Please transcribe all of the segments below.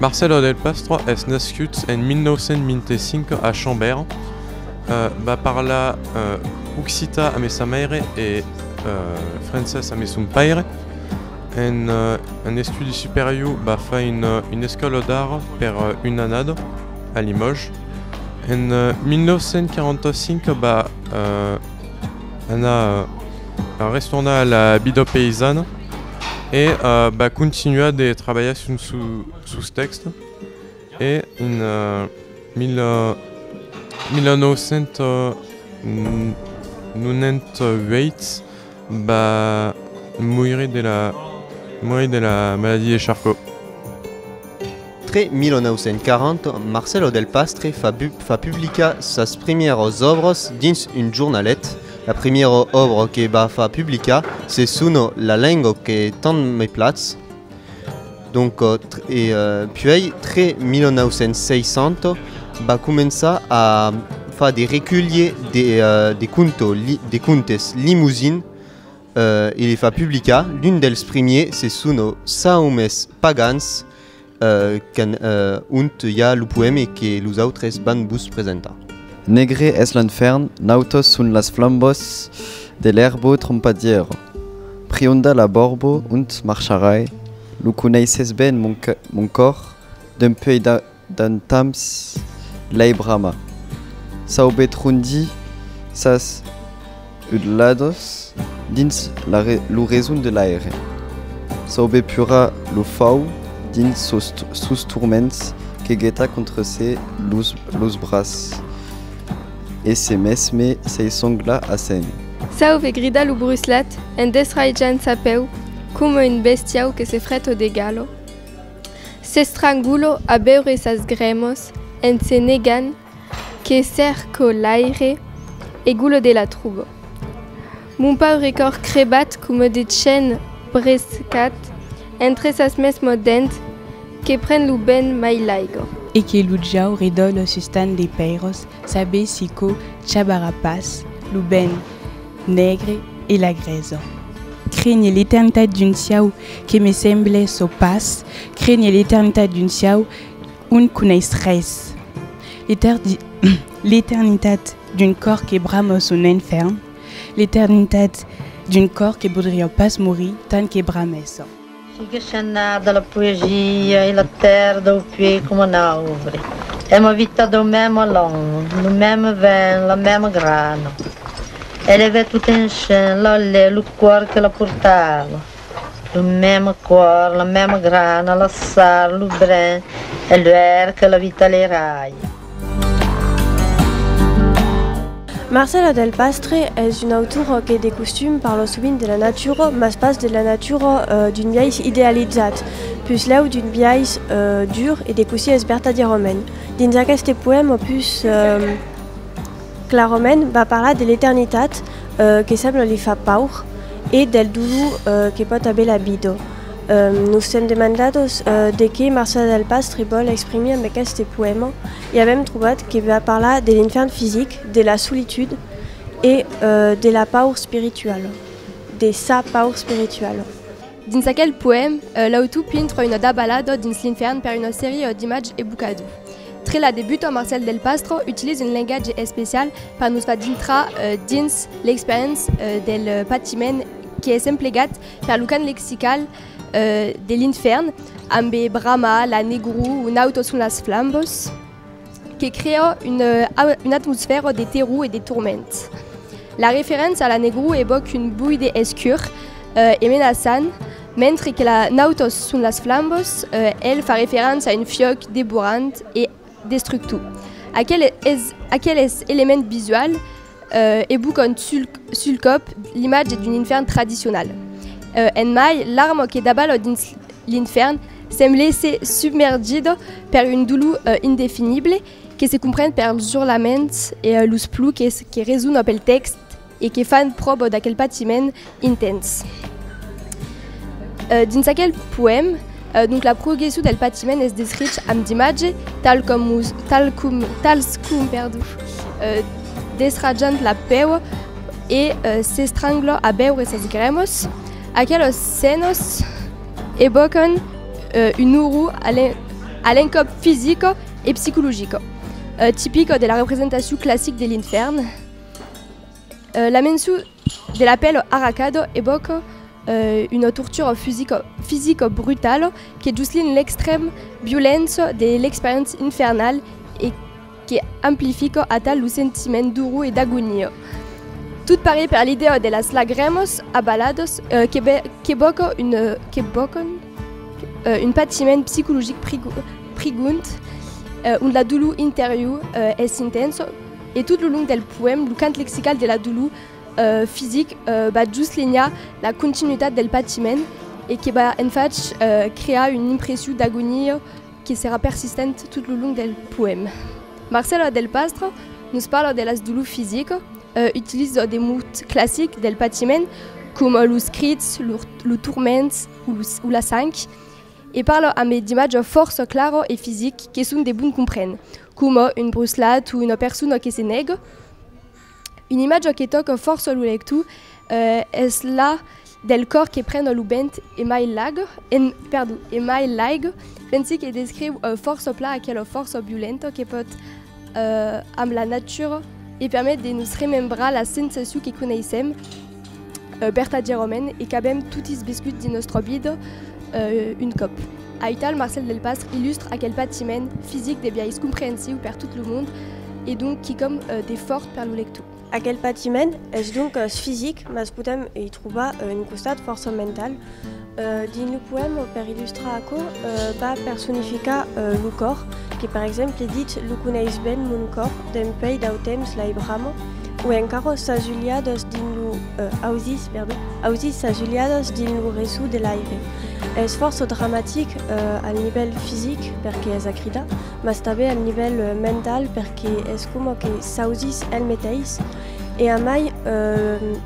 Marcelo del Pastra es nascut en 1925 a Chambéry, va parlar occità amé sa maire e francés amé son paire. En un estudi superior va far una escòla d'art per una annada a Limòges. En 1945 va anar, va restornar a la vida paisana. e va continuar de trabalhar sus tèxts e en 1998 va moire de la maladia de Charcot. Tre 1940, Marcelo del Pastre fa publicar sas primièras òbras dins un jornalet. La primièra òbra que va far publicar se sona La lenga que tant me platz. Donc, e puèi tre 1960 va començar a far de reculhie de de conto de contes Limousine e li fa publicar. L'un dels primièrs se sona Saumes pagans. qu'an ont i a lo poème que los autres van vos presentar. Negre es l'enfèrn, nautos son las flambos de l'èrbo trompadièro. Prionda la borbo ont marcharai, lo coneisses ben mon còr d'un puèi d'entamps lei brama. Saube trondí sas Udlados dins lo reson de l'aire. Saube pura lo fau dins sos turments que geta contra se los bras e se mesme sei songla a sèn. Saube grida lo bruslat en desraijant sa peu coma un bestiau que se fret o degalo. S'estrangula a beure sas grèmos en se negant Que cerco l'aire e golo de la troubo. Mon paure còr crebat coma de chen brescat entre sas mesmo dents que pren lo ben mai l'aigo. E que lo jau redòlo sustan de pèiros sabessi co chabarà pas lo ben negre e la greso. Crenhe l'eternitat d'un siau que me semble çò pas crenhe l'eternitat d'un siau. Un coneis res. L'eternitat d'un còr que brama son infèrn, l'eternitat d'un còr que podriá pas morir tant que bramèssa. Sigue Chenard de la poesia e la tèrra dau puèi coma un aubre. Èm avitats dau mème alan, lo mème vent, la mème grana. Elevè tot enchen l'alè, lo còr que la portava. Lo mème còr, la mème grana, la sal, lo brin e l'uèlh que la vita le rai. Marcela del Pastre es una autora que de costum parla sovint de la natura, mas pas de la natura d'un biais idealizat, puslèu d'un biais dur e de cossí es vertadièrament dins aqueste poèma pus Clarament va parlar de l'eternitat que sembla li far paur e del dolor que pòt aver la vida. Nos sèm demandados de qué Marcela Delpastre vòl exprimir amb aqueste poèma e avèm trobat que va parlar de l'infèrn fisic, de la solitud e de la paur spirituala, de sa paur spirituala. Dins aquel poèm, l'autor pintra una dabalada dins l'infèrn per una seria d'imatge ebucador. Tre la debuta Marcel Delpastro utiliza un lengatge especial per nos far dintrar dins l'experiença del patiment qu'es emplegat per lo cant lexical de l'infèrn ambe brama, la negror o nautos son las flambos. que crea una, una atmosfèra de terror e de torment. La referéncia a la negror evoque un buide escur eh, e menaçant, mentre que la Nautos son las flambos, eh, el fa referéncia a un fiòc devorant e destructor. Aquel es, aquel es element visual, E bocon sul còp, l'imatge d'un infèrn tradicional. En mai, l'armo que dabalhò dins l'infèrn semblèsse submergido per un dolor indefinible que se compren pels urlaments e los pluques que resonò pel tèxt e que fan pròbo d'aquel patiment intens. Dins aquel poèm, donc la progression del patiment es descrich amb d'imatge tal com us tal com tals com perdó desrajant la pèu e s'estranglo a beure ses gremos aquelos senos evocan un ouro a l'encòp fisico e psicologico tipico de la representacion classic de l'infèrn. Euh, la mençu de l'apèl arracado evoca euh, una tortura fisica, fisica brutala que juslin l'extrèm violença de l'experiéncia infernal e que amplifica atal lo sentiment duru e d'agonia. Tot parit per l'idèa de las lagrèmas abaladas euh, que, be, que boca un, euh, que bocan euh, un patiment psicologic prigond, euh, on la dolor interior euh, es intensa, E tot lo long del poèm, lo cant lexical de la dolor fisic va juslenhar la continuitat del patiment e que va en fach crear una impression d'agonia que serà persistent tot lo long del poèm. Marcela Delpastre nos parla de las dolors fisic, utilisa de mots classics del patiment coma los crits, los turments o la sang e parla ambe d'imatges fòrça clara e fisic que son de bon comprene. coma un bruslat o una persona que se nèga, una imatja que tòca fòrça lo lector es la del còr que prena lo bènt e mai lag, en, perdon, e mai laig, pensi que descriu fòrça plan aquela fòrça violenta que pòt amb la natura e permet de nos remembrar la sensacion que coneissèm Berta Geròmen e qu'avèm totis viscut dins nòstra vida un còp. Aital Marcel Delpastre illustre aquel patiment fisic de biais comprensiu per tot lo mond e donc quicòm de fòrt per lo lector. Aquel patiment es doncas fisic, mas podèm i trobar un costat fòrça mental, Dins lo poèma, per illustrar aquò, va personificar lo còr, que per exemple ditz Lo coneis ben mon còr, dempèi dau temps l'ai brama, o encara Sas ulhadas dins lo, ausis, perdon, ausis sas ulhadas dins lo resò de l'aire. Es fòrça dramatic al nivèl fisic, perque es a cridar, mas tanben al nivèl mental, perque es coma que s'ausis el meteis, E amai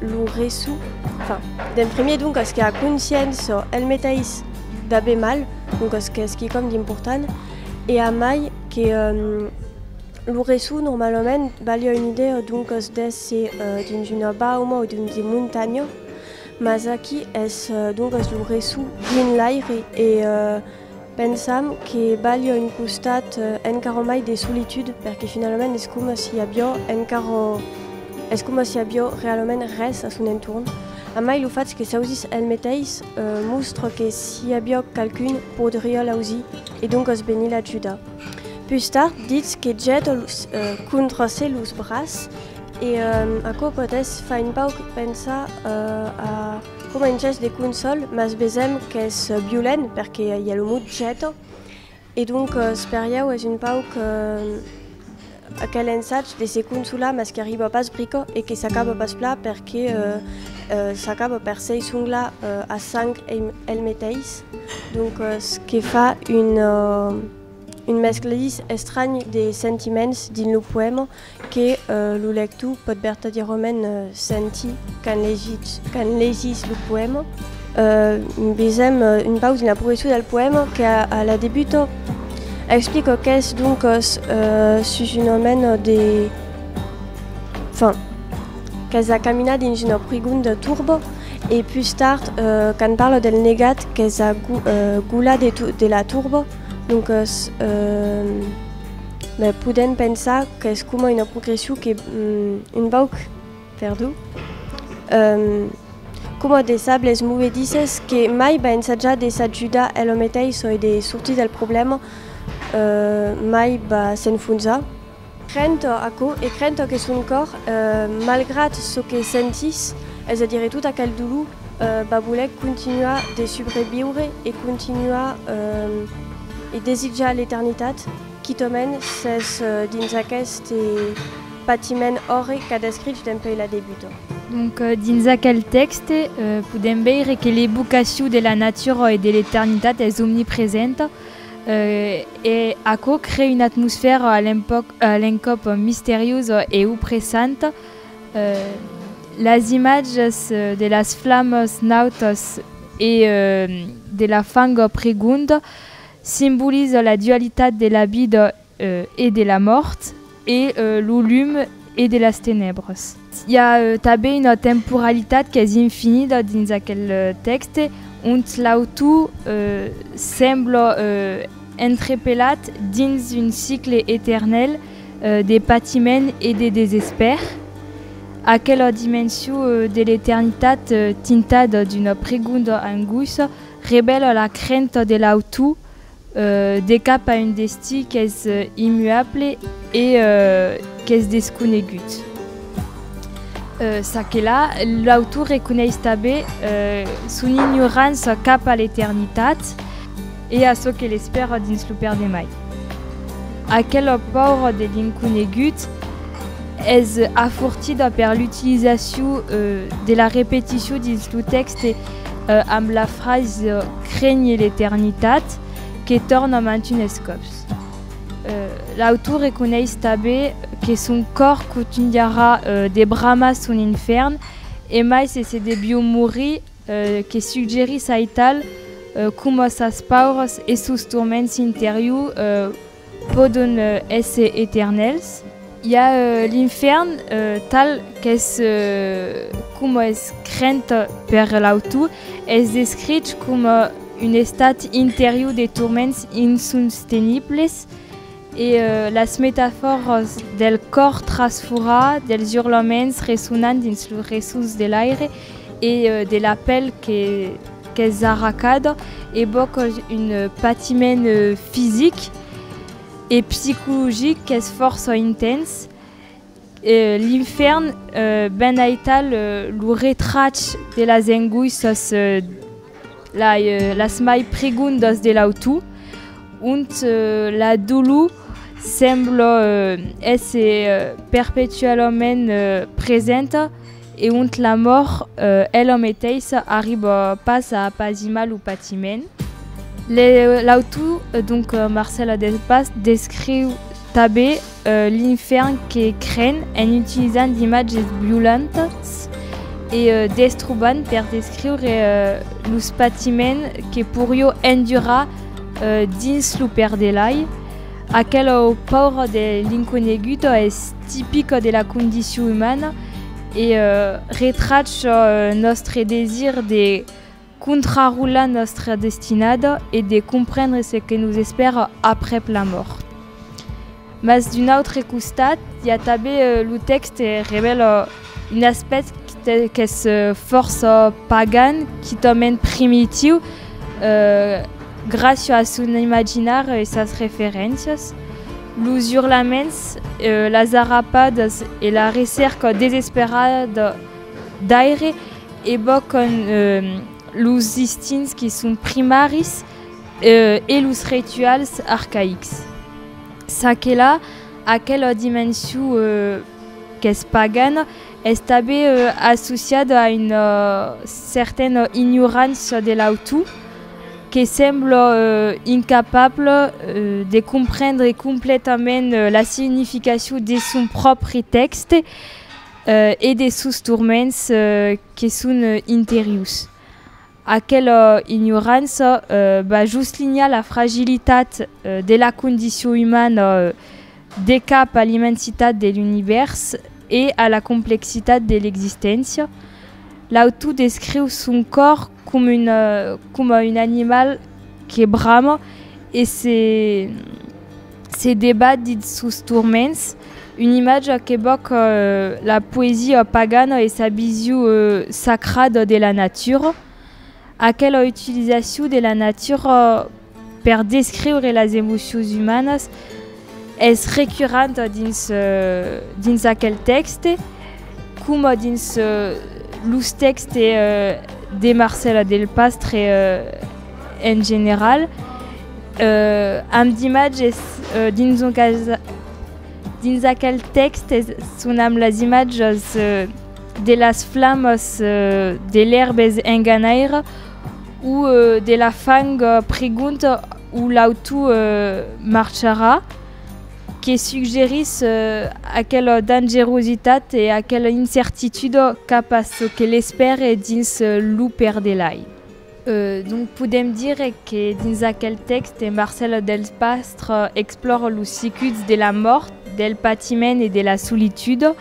lo reçu, enfin, d'en premier doncas que a conscients çò el metais d'aver mal, doncas qu'es quicòm d'important, e amai que lo reçu normalament balha una idèa doncas d'èsser dins una bauma o dins de montanha, mas aquí es doncas lo reçu dins l'aire e Pensam que balha un costat encara mai de solitud perque finalament es coma si avió encara es coma si avió realament res a son entorn. A mai lo fach que s'ausís el meteis mostra que si avió qualqu'un podriá l'ausir e doncas venir l'ajudar. Pus tard ditz que jeta contra se los braç e aquò pòt es far un pauc pensar a Coma un gèst de consòl, mas vesèm qu'es violent perque i a lo mot jeta e doncas per ieu es un pauc aquel ensatge de se consolar mas qu'arriba pas brica e que s'acaba pas plan perque s'acaba per s'eissonglar a sang el meteis, doncas que fa un mescladís estranh de sentiments dins lo poèma que lo lector pòt vertadièrament sentir quand legís, quand legís lo poèma. Uh, vesèm un pausa dins la progression del poèma que a, a la debuta explica qu'es donc uh, sus un omèn de... Enfin, qu'es la caminada dins una prigonda turba e plus tard uh, quand parla del negat qu'es la gu, uh, gula de, tu, de la turba donc uh, Be, podèm pensar qu'es coma una progression que un bauc perdu, coma de sables movedisses que mai va ensajar de s'ajudar elo meteis ò de sortir del problèma, mai va s'enfonzar. Crent ò aquò e crent ò que son còr, malgrat çò que sentís, es a dire tot aquel dolor, va voler continuar de subreviure e continuar e desitjar l'eternitat, quitament s'es dins aqueste patiment òrre qu'a descrich dempuèi la debuta. Donc, dins aquel tèxte, podèm veire que l'evocacion de la natura e de l'eternitat es omnipresenta, e aquò crée una atmosfèra a l'encòp misteriosa e opressanta, Las imatges de las flamas nautas e de la fanga pregonda simbolizan la dualitat de la vida e de la mòrt e lo lum e de las tenebras. I a tanben una temporalitat qu'es infinida dins aquel tèxte, ont l'autor sembla entrepelat dins un cicle eternèl, de patiment e de desespèr, aquela dimension de l'eternitat tintada d'una pregonda angoissa revèla la crenta de l'autor de cap a un destí qu'es immuable e qu'es desconegut. Ça que la, l'autor reconeis tanben son ignorança cap a l'eternitat. E a çò que l'espèra dins lo perdemai. Aquela paura de l'inconegut es afortida per l'utilizacion de la repeticion dins lo tèxte amb la frasa Crènhe l'eternitat que torna mantunes còps. L'autor reconeis tanben que son còr cotunharà de bramar son infèrn e mai se se devió morir, Que suggerís aital coma sas paurs e sos torments interiurs pòdon èsser eternèls? I a l'infèrn, tal qu'es coma es crent per l'autor, es descrich coma un estat interior de torments insostenibles, e las metafòras del còr trasforat, dels urlaments ressonant dins los ressons de l'aire e de la pèl qu'es arracada, evòcan un patiment fisic e psicologic qu'es fòrça intens. E l'infèrn, ben aital lo retrach de las angoissas las mai pregondas de l'autor, ont la dolor sembla èsser perpetualament presenta, E ont la mòrt ela meteissa arriba pas a apazimar lo patiment. L'autor donc Marcèla Delpas descriu tanben l'infèrn que cren en utilizant d'imatges violentas e destrobant per descriure los patiments que porió endurar dins lo perdelai aquela paura de l'inconegut es tipica de la condicion umana e retrach çò nòstre desir de contrarolar nòstra destinada e de comprendre ce que nos espèra aprèp la mòrt. Mas d'un autre costat, i a tanben lo tèxte revèla un aspèct qu'es fòrça pagan, quitament primitiu, gràcia a son imaginar e sas referéncias. Los urlaments, las arrapadas e la recèrca desesperada d'aire evòcan los instints que son primaris e los rituals arcaics. Çaquelà, aquela dimension qu'es pagana, es tanben associada a una certana ignorança de l'autú. que sembla incapable de comprendre completament la significacion de son pròpri tèxte e de sos turments que son interiurs. Aquela ignorança va just linhar la fragilitat de la condicion umana, De cap a l'immensitat de l'univèrs e a la complexitat de l'existéncia, l'autor descriu son còr coma un animal que brama e se debat dins sos turments, una imatja qu'evòca la poesia pagana e sa vision sacrada de la natura, aquela utilizacion de la natura Per descriure las emocions umanas es recurrent dins dins aquel tèxte coma dins los tèxte de Marcela Delpastre en general amb d'imatges dins son cas dins aquel tèxte son amb las imatges de las flamas de l'erbes en ganaire Ou de la fang pregunt ou l'auto marcharà, que suggerís aquela dangerositat e aquela incertitude cap a çò que l'espère dins lo perdelai. Donc podèm dire que dins aquel tèxt de Marcel Delpastre explòra los circuits de la mòrt, del patiment e de la solitude,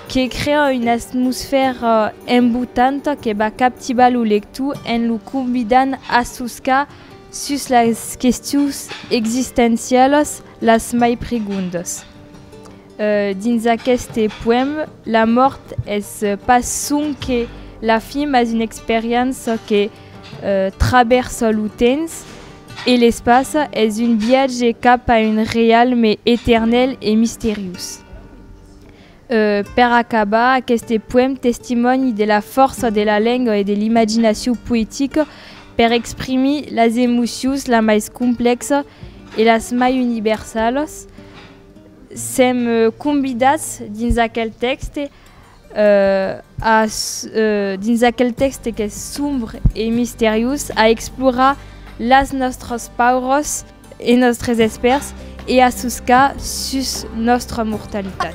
que crea una atmosfèra embotanta que va captivar lo lector en lo convidant a soscar sus las questions existencialas las mai pregondas. Dins aqueste poèma, la mòrt es pas sonque la fin mas una experiéncia que travèrsa lo temps e l'espaça, es un viatge cap a un reialme eternèl e misteriós. Per acabar, aqueste poèm testimòni de la fòrça de la lenga e de l'imaginacion poetica per exprimir las emocions las mai complèxa e las mai universalas. Sèm convidats dins aquel tèxte Dins aquel tèxte qu'es sombre e misteriós, a explorar las nòstras paüras e nòstres espèrs e a soscar sus nòstra mortalitat.